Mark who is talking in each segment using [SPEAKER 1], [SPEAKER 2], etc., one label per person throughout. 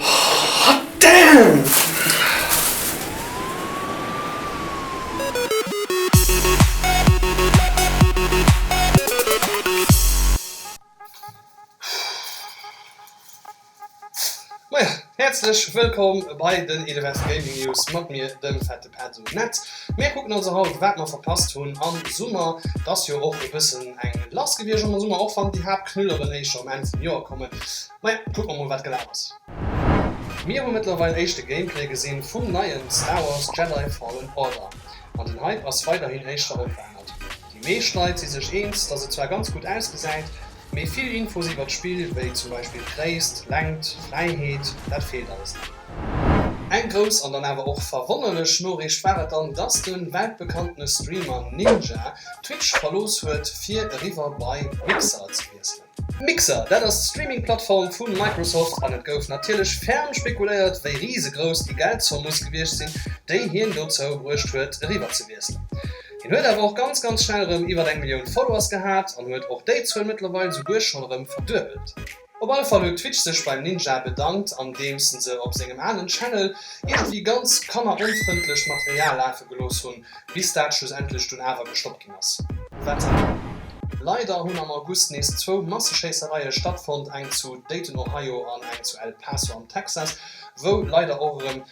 [SPEAKER 1] Hot damn! Moien, häerzlech wëllkomm bei den Elevest Gaming News mat mir, dem Fette Pit. Edo net. Mir kucken also haut wat mer verpasst hunn am Summer. Et ass jo och e bëssen eng lass gewiescht am Summer, och wann déi Haaptknülleren éischter um Enn vum Joer kommen. Majo, kucke mer mol wat gelaf ass. Mir hu mëttlerweil éischte Gameplay gesinn vum neien Star Wars Jedi Fallen Order an den Hype ass weiderhin éischter onverännert. Déi meescht Leit si sech eens, dass et zwar ganz gutt ausgesäit, Mee vill Infos iwwert d'Spill, wéi zum Beispill Gréisst, Längt, Fräiheet, dat feelt alles nach. Eng grouss an dann awer och verwonnerlech Noriicht war et dann, dass de weltbekanntene Streamer Ninja Twitch verlooss huet, fir eriwwer bei Mixer ze wiesselen. Mixer, dat ass d'Streaming-Plattform vu Microsoft an et gouf natierlech ferm spekuléiert, wéi risegrouss déi Geldzomm muss gewiescht sinn, déi hien dozou bruecht huet, eriwwer ze wiesselen. Hien huet awer och ganz ganz schnell erëm iwwert eng Millioun Followers gehat an huet och déi Zuel mëttlerweil souguer schonn erëm verduebelt. Op alle Fall huet Twitch sech beim Ninja bedankt andeems en se op sengem aalen Channel iergendwéi ganz kanneronfrëndlecht Material lafe gelooss hunn, bis dat schlussendlech dunn awer gestoppt ginn ass. Wetter, Leider hunn am August nees zwou Masseschéissereie stattfonnt, eng zu Dayton, Ohio an eng zu El Paso am Texas, wou leider och erëm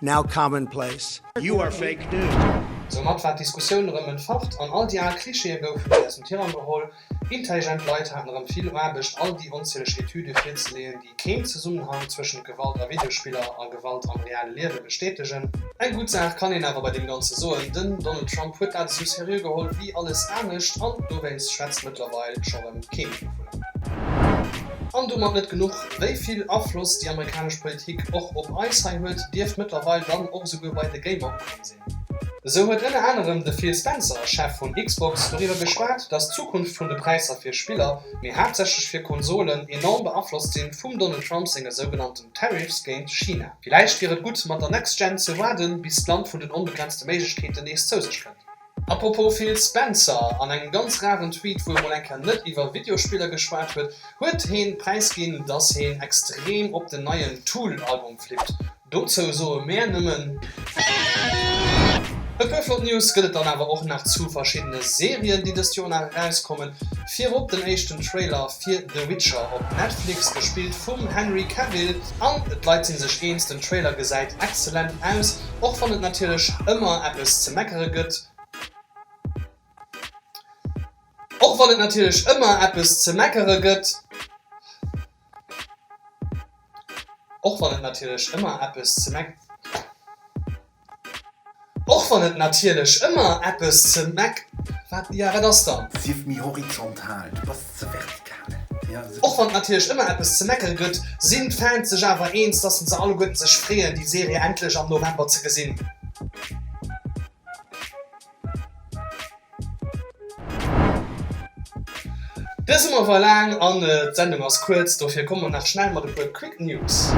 [SPEAKER 2] now commonplace. You are fake news. Soumat war
[SPEAKER 1] d'Diskussioun erëm entfacht an all déi al Klischeeë goufen nees aus dem Tirang geholl. Intelligent Leit haten erëm vill Aarbecht, all déi onzieleg Etüde virzeleeën, déi keen Zesummenhang zwëschent Gewalt a Videospiller a Gewalt am reale Liewe bestätegen. Eng gutt Saach kann een awer bei deem Ganze soen, Den Donald Trump huet dat esou seriö geholl wéi alles anescht an dowéinst schwätzt mëttlerweil scho rëm kee méi dovunner. An domat net genuch, Wéi vill Afloss déi amerikanesch Politik och op eis hei huet, dierft mëttlerweil dann och esouguer bei de Gamer ukomm sinn. Esou huet ënner anerem de Phil Spencer, Chef vun Xbox, doriwwer geschwat, datt d'Zukunft vun de Präisser fir Spiller, mee haaptsächlech fir Konsolen, enorm beaflosst sinn vum Donald Trump senge sougenannten Tariffs géint China. Villäicht wier et gutt, mat der Next Gen ze waarden, bis d'Land vun den onbegrenzte Méiglechkeeten nees zou sech kënnt. Apropos Phil Spencer, an engem ganz raren Tweet wou e mol eng Kéier net iwwer Videospiller geschwat huet, huet heen präis ginn dass heen extrem op den neien Tool Album flippt. Dozou soe mäer nëmmen. E puer flott News gëtt et dann awer och nach zu verschiddene Serien déi dëst Joer nach erauskommen. Virop den éischten Trailer fir The Witcher op Netflix, gespillt vum Henry Cavill, an d'Leit sinn sech eens, den Trailer gesäit exzellent aus, och wann et natierlech ëmmer eppes ze meckere gëtt. Och wann et natierlech ëmmer eppes ze meckere gëtt. Och wann et natierlech ëmmer eppes ze meckere gëtt. Och wann et natierlech ëmmer eppes ze meck. Ja, wat ass dann? Sief méi horizontal,
[SPEAKER 3] du bass ze vertikal. Och wann et natierlech ëmmer
[SPEAKER 1] eppes ze meckere gëtt, sinn d'Fans sech awer eens, dass se alleguerten sech freeën, déi Serie endlech am November ze gesinn. Dëse Summer war laang an d'Sendung ass kuerz, dofir komme mer nach schnell mat e puer Quick News.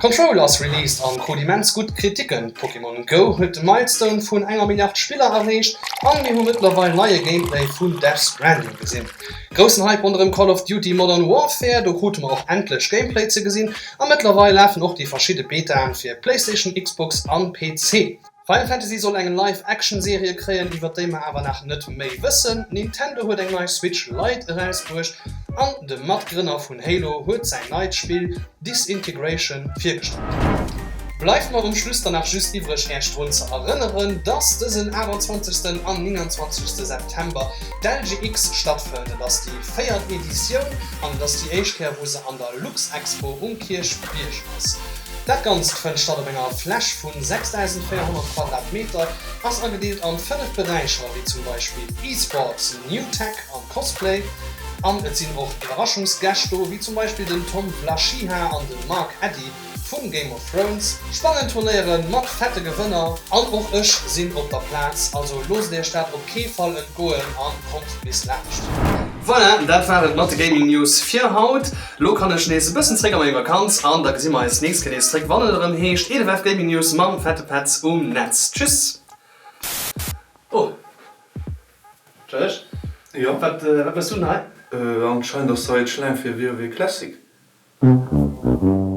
[SPEAKER 1] Control ass released an krut immens gutt Kriticken. Pokémon Go huet de Milestone vun enger Milliard Spiller erreecht an mir hu mëttlerweil neie Gameplay vun Death Stranding gesinn. Groussen Hype ronderëm Call of Duty Modern Warfare, do krute mer och endlech Gameplay ze gesinn a mëttlerweil lafen och déi verschidde Betaen fir PlayStation, Xbox an PC. Final Fantasy soll eng Live-Action-Serie kréien, iwwert déi mer awer nach net méi wëssen. Nintendo huet eng nei Switch Lite erausbruecht an de Matgrënner vun Halo huet säin neit Spill Disintegration virgestallt. Bleift mer um Schluss dann nach just iwwreg Äech drun ze erënneren, dass dësen 28. an 29. September d'LGX stattfënnt. Et ass déi véiert Editioun an et ass déi éischt Kéier wou se an der Luxexpo um Kierchbierg ass. Dat Ganzt fënnt statt op enger Fläch vun 6.400 Quadratmeter, ass agedeelt an 5 Beräicher, wéi zum Beispill E-Sports, New Tech an Cosplay, an et sinn och Iwwerraschungsgäscht do, wéi zum Beispill den Tom Blashiha an den Mark Addy vun Game of Thrones. Spannend Turnéieren mat fette Gewënner an och ech sinn op der Plaz, also loosst iech dat op kee Fall entgoen an kommt bis laascht. Voilà, dat war et mat de Gaming News fir haut. Lo kann ech nees e bëssen zréck a meng Vakanz an da gesi mer eis d'nächst Kéier nees zréck wann et erëm heescht EDFF Gaming News mam Fette Petz um Netz. Tschüss! Oh. Tschech? Jo.
[SPEAKER 3] Wat méchs du denn hei? Anscheinend ass hei d'Schlaang
[SPEAKER 1] fir
[SPEAKER 3] WoW
[SPEAKER 1] Classic.